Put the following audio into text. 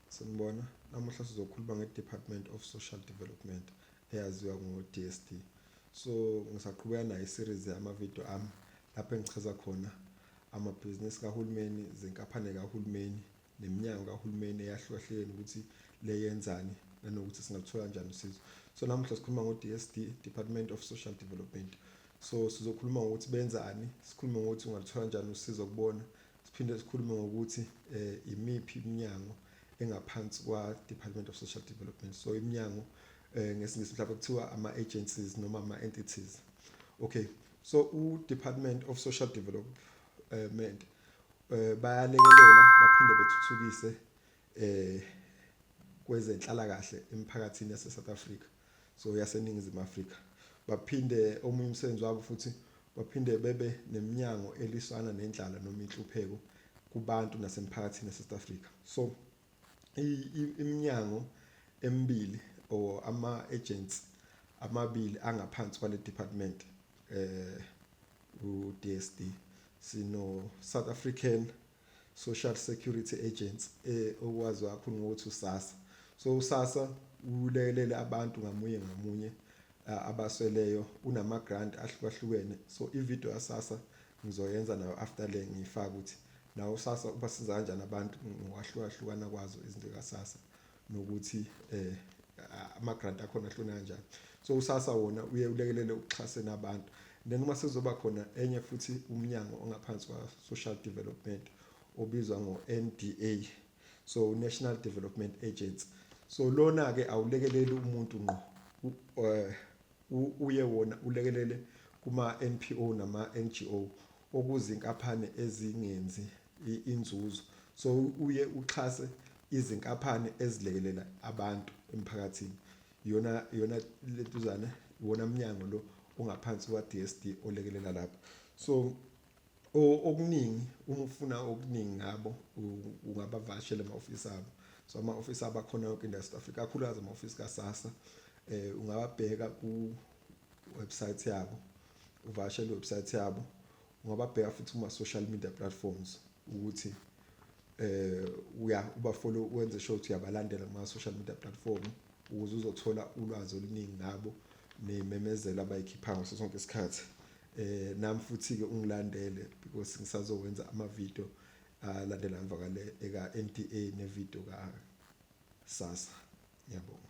Sanibona, namuhla sizokhuluma nge-Department of Social Development eyaziwa ngo-DSD. So ngisaqhubeka nayo i-series yamavidiyo ami lapho engichaza khona amabhizinisi kahulumeni, zinkaphane kahulumeni, neminyango kahulumeni eyahlukahlukene ukuthi le yenzani nanokuthi singaluthola kanjani usizo. So namuhla sikhuluma ngo-DSD, Department of Social Development. So sizokhuluma ngokuthi benzani, sikhulume ngokuthi ungaluthola kanjani usizo kubona Siphinde sikhulume ngokuthi eh imiphi iminyango engaphansi kwa Department of Social Development. So iminyango eh ngesingisi mhlawumbe kuthiwa ama agencies noma ama entities. Okay. So u Department of Social Development eh bayalekelela baphinde bethuthukise eh kwezenhlala kahle emphakathini yase South Africa so yaseningizimu Afrika baphinde omunye umsebenzi wabo futhi baphinde bebe neminyango eliswana nendlala noma inhlupheko kubantu nasemphakathini eSouth Africa so iminyango emibili or ama agents amabili angaphansi kwale department eh uDSD sino South African Social Security Agency eh okwazi kakhulu ngokuthi uSASSA so uSASSA ulekelele abantu ngamunye ngamunye abasweleyo unama grant ahlukahlukene so i video ya SASSA ngizoyenza nayo after le ngiyifaka ukuthi nawo SASSA ubasiza kanjani abantu ngokwahlukahlukana kwazo izinto kaSASSA nokuthi eh ama grant akhona ahlone kanjani so usasa wona uye ulekelele ukuxhasena abantu then uma sezoba khona enye futhi umnyango ongaphansi kwa social development obizwa ngo NDA so National Development Agency so lona ke awulekeleli umuntu ngqo eh, uye wona ulekelele kuma NPO nama NGO okuzinkaphane ezingenzi inzuzo so uye uxhase izinkaphane ezilekelela abantu emphakathini yona yona lentuzana wona mnyango lo ongaphansi kwa DSD olekelela lapho so okuningi uma ufuna okuningi ngabo ungabavashela ama office abo so ama office abakhona yonke indawo South Africa kakhulukazi ama office kaSASSA eh ungababheka ku website yabo uvakashele iwebsite yabo ungababheka futhi kuma-social media platforms ukuthi eh uya ubafollow wenze sure ukuthi uyabalandela kuma-social media platform ukuze uzothola ulwazi oluningi ngabo nememezelo abayikhipha ngaso sonke isikhathi eh nami futhi-ke ungilandele because ngisazowenza ama-video alandela emva kale eka-n t a ne-video ka sasa ngiyabonga